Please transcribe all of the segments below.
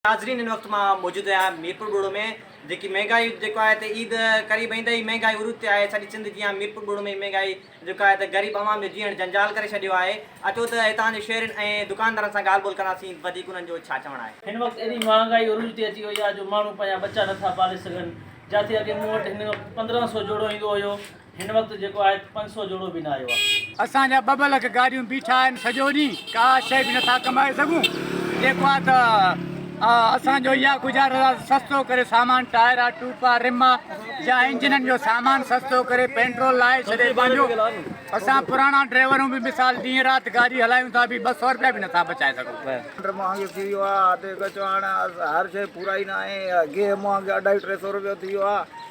ناظرين هن وقت مان موجود آهيان ميرپور ٻوڙو ۾ جيڪي مهنگائي جيڪو آهي ته عيد قريب ايندي ئي مهنگائي عروج تي آهي سڄي سنڌ جيان ميرپور ٻوڙو ۾ به مهنگائي جيڪو آهي ته غريب عوام جو جيئڻ جنجال ڪري ڇڏيو آهي اچو ته هتان جي شهرين ۽ دڪاندارن سان ڳالهه ٻولهه ڪنداسين وڌيڪ انهن جو ڇا چوڻ آهي. هن وقت ايڏي مهانگائي عروج تي اچي وئي آهي جو ماڻهو پنهنجا ٻچا نٿا پالي سگهن جاٿي اڳي مون وٽ هن وقت پندرهن سو جوڙو ايندو هيو هن وقت جيڪو آهي ته پنج سؤ جوڙو به نه آيو آهي. اسان جا ٻه ٻه لک گاڏيون بيٺا آهن سڄو ڏينهن ڪا شئي به نٿا ڪمائي سگهون جيڪو آهي ته اسان جو اها گذارش آهي ته سستو ڪري سامان ٽائرا ٽوپا رما يا انجنن جو سامان سستو ڪري پيٽرول لاهي ڇڏي پنهنجو اسان پراڻا ڊرائيورون به مثال ڏينهن رات گاڏي هلايون ٿا به ٻه سؤ رپيا به نٿا بچائي سگهون. سلنڊر مهانگو ٿي ويو آهي اڌ اگهه چوڻ هر شئي پورائي نه آهي گيهه مهانگو اڍائي ٽي سؤ رپيو ٿي ويو آهي.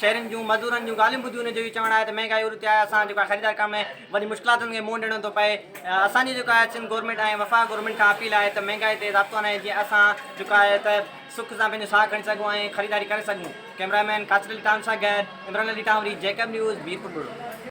شهرين جون مزدورن جون ڳالهيون ٻڌي ان جو اهو چوڻ آهي ته مهنگائي عروج تي آهي اسان جيڪو آهي خريدار ڪم ۾ وڏي مشڪلاتن کي منهن ڏيڻو ٿو پئي اسان جي جيڪو آهي سنڌ گورنمينٽ ۽ وفاق گورنمينٽ کان اپيل آهي ته مهنگائي تي ضابطو آڻي جيئن اسان جيڪو آهي ته سک سان پنهنجو ساهه کڻي سگهون ۽ خريداري ڪري سگهون ڪئميرا مين قاصد علي ٽام سان گڏ عمران علي ٽانوري جيڪب نيوز ميرپور ٻرڙو.